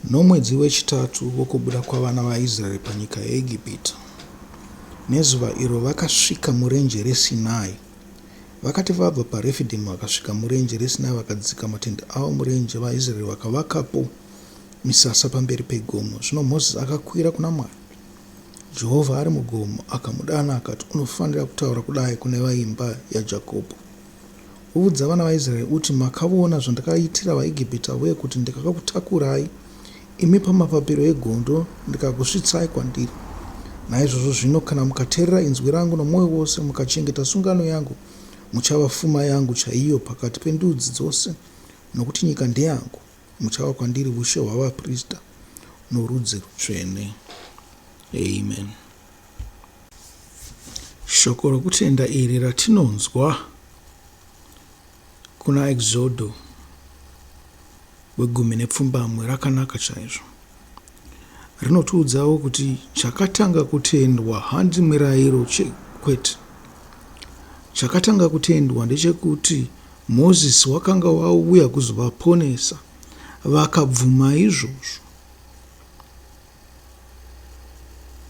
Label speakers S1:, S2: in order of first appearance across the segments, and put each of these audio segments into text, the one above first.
S1: Nomwedzi wechitatu wokubuda kwavana vaIsraeri panyika yeIgipita, nezuva iro vakasvika murenje reSinai, vakati vabva paRefidhimu vakasvika murenje reSinai vakadzika matendhe avo murenje, vaIsraeri vakavakapo misasa pamberi pegomo. Zvino Mozisi akakwira kuna Mwari, Jehovha ari mugomo, akamudana akati, Unofanira kutaura kudai kune veimba yaJakobho. Udza vana vaIsraeri uti, Makavona zvandakaitira vaIgipita uye kuti ndikakakutakurai imi pamapapiro egondo ndikakusvitsai kwandiri. Naizvozvo zvino kana mukaterera inzwi rangu nomwoyo wose mukachengeta sungano yangu, muchava fuma yangu chaiyo pakati pendudzi dzose, nokuti nyika ndeyangu, muchava kwandiri ushe hwavaprista norudzi rutsvene. Amen. Shoko rokutenda iri ratinonzwa kuna Exodo wegumi nepfumbamwe rakanaka chaizvo. Rinotiudzawo kuti chakatanga kutendwa handi mirayiro kwete. Chakatanga kutendwa ndechekuti Mozisi wakanga wauya kuzovaponesa, vakabvuma izvozvo.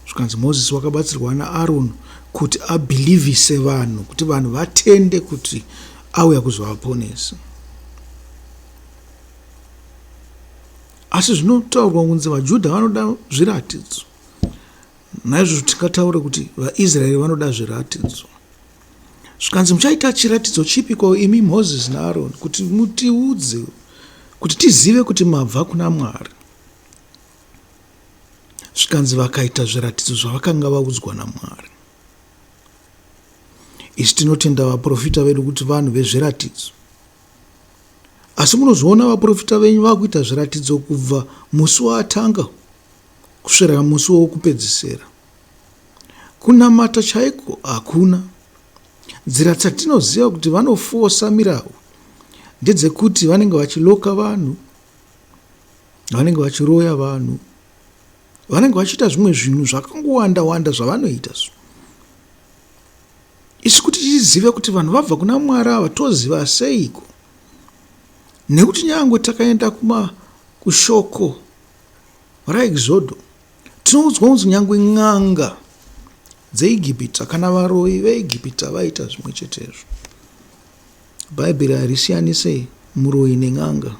S1: zvikanzi mozisi wakabatsirwa naaroni kuti abhilivhise vanhu kuti vanhu vatende kuti auya kuzovaponesa asi zvinotaurwa kunzi vajudha vanoda zviratidzo naizvozvo tingataure kuti vaisraeri vanoda zviratidzo zvikanzi muchaita chiratidzo chipiko imi mozisi naaroni kuti mutiudze kuti tizive kuti mabva kuna mwari zvikanzi vakaita zviratidzo zvavakanga vaudzwa namwari isu tinotenda vaprofita vedu kuti vanhu vezviratidzo asi munozviona vaprofita venyu vakuita zviratidzo kubva musi waatanga kusvira musi wokupedzisira kunamata chaiko hakuna nzira dzatinoziva kuti vanofosa mirawu ndedzekuti vanenge vachiloka vanhu vanenge vachiroya vanhu vanenge vachiita zvimwe zvinhu zvakangowanda wanda zvavanoita so isu kuti tizive kuti vanhu vabva kuna mwari ava toziva seiko nekuti nyangwe takaenda kuma kushoko raexodo tinoudzwa kunzi nyangwe n'anga dzeigipita kana varoyi veigipita vaita zvimwe chetezvo Bhaibheri harisiyanise muroyi nen'anga.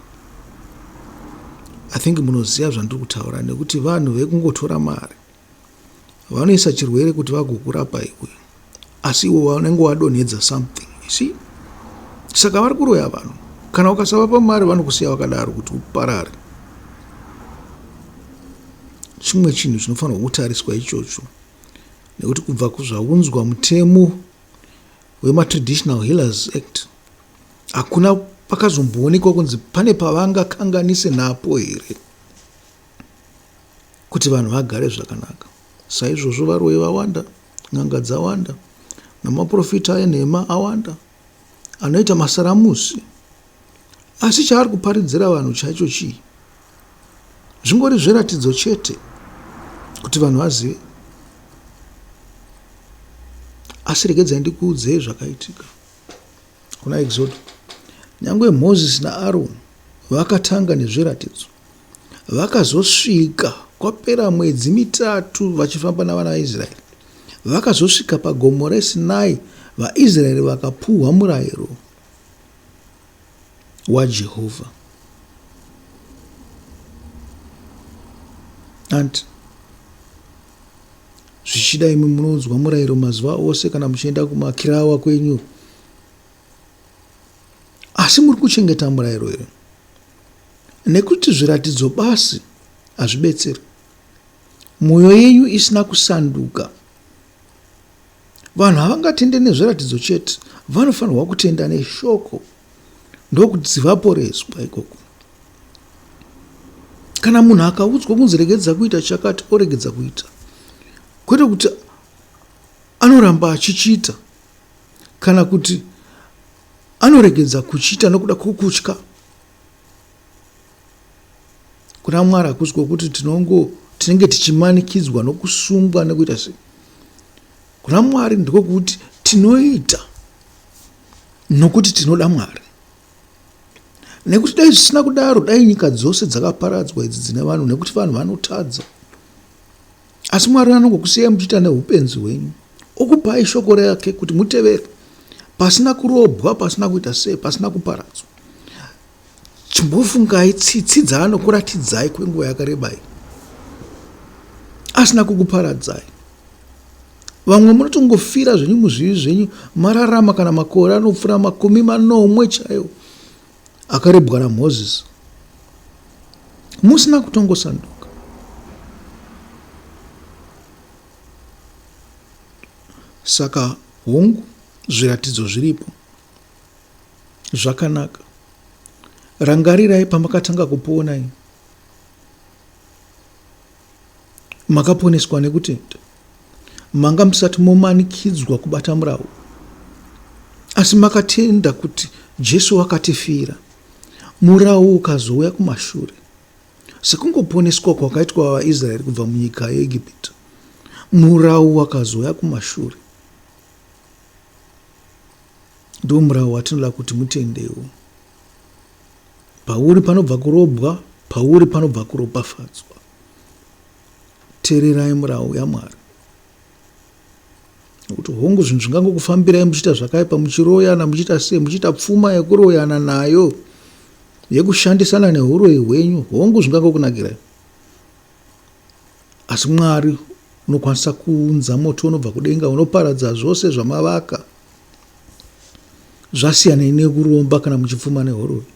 S1: I think munoziva zvandiri kutaura nekuti vanhu vekungotora mari vanoisa chirwere kuti vagokurapa iwe asi iwe vanenge wadonhedza something si saka vari kuroya vanhu kana ukasavapa mari vanokusiya vakadaro kuti uparare chimwe chinhu chinofanirwa kutariswa ichocho nekuti kubva kuzvaunzwa mutemo hwemaTraditional Healers Act hakuna pakazomboonekwa kunzi pane pavangakanganise napo here kuti vanhu vagare zvakanaka saizvozvo varoyi vawanda n'anga dzawanda namaprofita enhema awanda anoita masaramusi asi chaari kuparidzira vanhu chaicho chii zvingori zviratidzo chete kuti vanhu vazive asi regedzai ndikuudzei zvakaitika kuna exodo nyange moses naaroni vakatanga nezviratidzo vakazosvika kwapera mwedzi mitatu vachifamba navana vaisraeri vakazosvika pagomo resinai vaisraeri vakapuhwa murayiro waJehovha. Hanti zvichida imwe munoudzwa murayiro mazuva ose kana muchienda kumakirawa kwenyu, asi muri kuchengeta murayiro here? Nekuti zviratidzo basi hazvibetseri, mwoyo yenyu isina kusanduka. Vanhu havangatende nezviratidzo chete, vanofanirwa kutenda neshoko ndokuti vaporeswa ikoko. Kana munhu akaudzwa kunzi regedza kuita chakati oregedza kuita, kwete kuti anoramba achichiita kana kuti anoregedza kuchiita nokuda kwokutya kuna mwari hakusi kwokuti tinongo tinenge tichimanikidzwa nokusungwa nekuita sei kuna mwari ndiko kuti tinoita nokuti tinoda mwari nekuti dai zvisina kudaro dai nyika dzose dzakaparadzwa idzi dzine vanhu nekuti vanhu vanotadza Asi Mwari anongokusiyai muchiita neupenzi hwenyu, okupai shoko rake kuti mutevere, pasina kurobwa, pasina kuita sei, pasina kuparadzwa. Chimbofungai tsitsi dzaanokuratidzai kwenguva yakareba iyi, asina kukuparadzai. Vamwe munotongofira zvenyu muzvivi zvenyu, mararama kana makore anopfuura makumi manomwe chaiwo, akarebwa naMoses musina kutongosanduka saka hongu zviratidzo zviripo zvakanaka rangarirai pamakatanga kupona Makaponeswa nekutenda. Manga musati momanikidzwa kubata murau. Asi makatenda kuti Jesu wakatifira. Murau ukazouya kumashure. Sekungoponeswa kwakaitwa vaIsraeri kubva munyika yeEgipita. Murau wakazouya kumashure. Ndiwo murau watinoda kuti mutendewo. Pauri panobva kurobwa, pauri panobva kuropafadzwa. Tererai murau yaMwari. Nokuti hongu zvinhu zvingangokufambirai muchiita zvakaipa, muchiroyana, muchiita sei, muchiita pfuma yekuroyana nayo, yekushandisana neuroyi hwenyu, hongu zvingangokunakirai. Asi Mwari unokwanisa kuunza moto unobva kudenga unoparadza zvose zvamavaka zvasiyanei nekuromba kana muchipfuma nehoroyi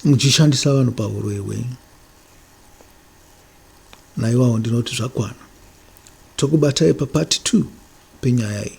S1: muchishandisa vanhu pahuroyi hwenyu naiwawo ndinoti zvakwana tokubatai papati two penyaya iyi